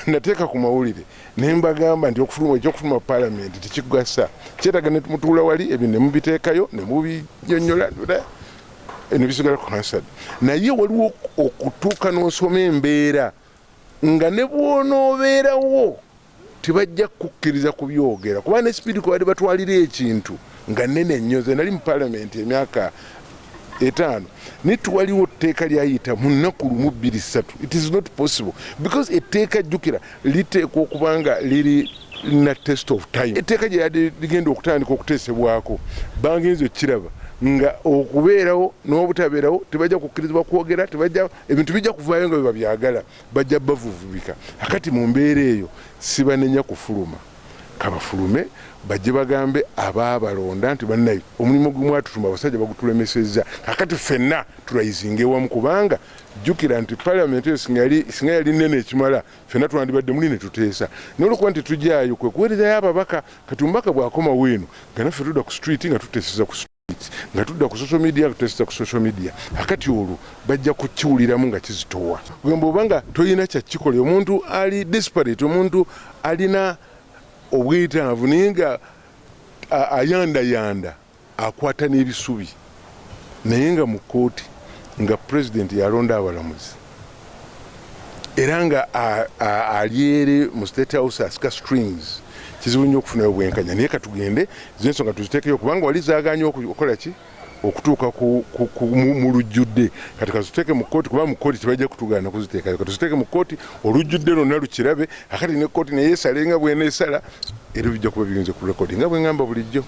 nateeka ku mawulire ne mbagamba nti okufuluma ekyokufuluma palamenti tekigasa kyetaga ne mutuula wali ebyo ne mubiteekayo ne mubinyonyola ne bisigala ku hansad naye waliwo okutuuka n'osoma embeera nga ne bw'onoobeerawo tebajja kukkiriza kubyogera kuba ne sipiidi kwe bali batwalira ekintu nga nnene nnyo ze nali mu palamenti emyaka etaano naye twaliwo etteeka lyayita mu nnaku lumu bbiri ssatu it is not possible because etteeka jjukira liteekwa okuba nga liri na test of time etteeka gye yadde ligenda okutandika okuteesebwako bangenza okukiraba nga okubeerawo n'obutabeerawo tebajja kukkirizibwa kwogera tebajja ebintu bijja kuvaayo nga bwe babyagala bajja bavuvubika akati mu mbeera eyo sibanenya kufuluma kabafulume bajje bagambe abaabalonda nti bannaye omulimu gwe mwatutuma abasajja bagutulemesezza kakati ffenna tulayizinga ewamu kubanga jjukira nti palamenti eyo singa yali nnene ekimala ffenna twandibadde muli ne tuteesa nolwokuba nti tujaayo kwe kuweerezayo ababaka kati omubaka bw'akomawo eno nga naffe tudda ku street nga tuteeseza ku street nga tudda ku social media tutesita ku social media akati olwo bajja kukiwuliramu nga kizitowa gwemba oba nga tolina kyakikola omuntu ali disparate omuntu alina obwetaavu naye nga ayandayanda akwata n'ebisubi naye nga mu kkooti nga pulezidenti yalonda abalamuzi era nga alyeri mu state house asika strings kizibu nnyo okufunayo obwenkanya naye katugende zensonga tuzitekeyo kubanga wali zaganye okukola ki okutuuka mu lujjudde kati kaziteeke mu kkooti kuba mu kkooti tebajja kutugaana kuziteekayo katuziteeke mu kkooti olujjudde lwonna lukirabe akati ne kkooti naye esale nga bwena esala era bijja kuba biyinza ku rekodi nga bwe ŋŋamba bulijjo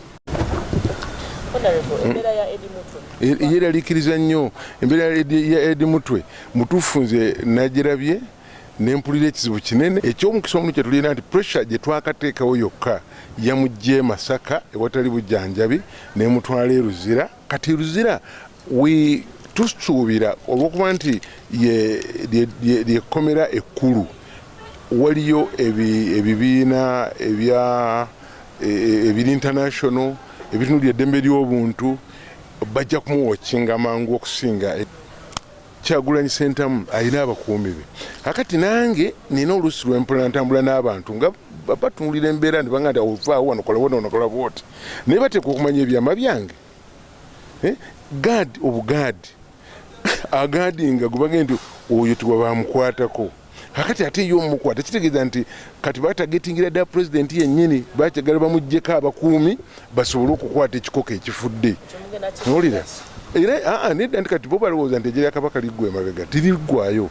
yeralikiriza hmm. nnyo embeera ya edi mutwe mutuufu nze nagirabye nempulira ekizibu kinene ekyomukisa omu kyetulina nti pressure gyetwakateekawo yokka yamugye masaka ewatali bujanjabi nemutwala eruzira kati luzira we tusuubira olwokuba nti lyekkomera ekkulu waliyo ebibiina e, ebiri international ebitunuli eddembe ly'obuntu bajja kumuwokinga mangu okusinga Kyagulanyi Sentamu alina abakuumi be akati nange nina oluusi lwempula ntambula n'abantu nga batunuulira embeera nibanga nti ovaawo wano kola wano onokola bwoti naye bateeka okumanya ebyama byange eh, gaadi obugaadi agaadi nga gubage nti oyo tiwa bamukwatako kakati ate yo omukwata kitegeeza nti kati batagetingira ddala pulezidenti yennyini bakyagala bamugjeko abakuumi basobole okukwata ekikoko ekifudde nolira era ah, ah, nedda nti kati bo balowooza nti ejeri akabaka liggwa emabega tiriggwayo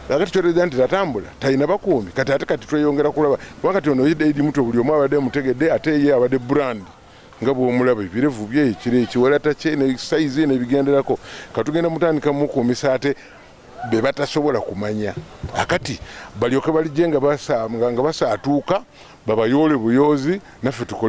kakati kyotegeeza nti tatambula talina bakuumi kati ate kati tweyongera kulaba kuba kati ono idi muto buli omu abadde mutegedde ate ye abadde brandi nga bwomulaba ebirevu bye ekiro ekiwalata kye ne sayizi nebigenderako katugenda mutandika mukuumisa ate be batasobola kumanya akati balyoke balijenga basanga nga basaatuuka babayoole buyoozi naffe tukole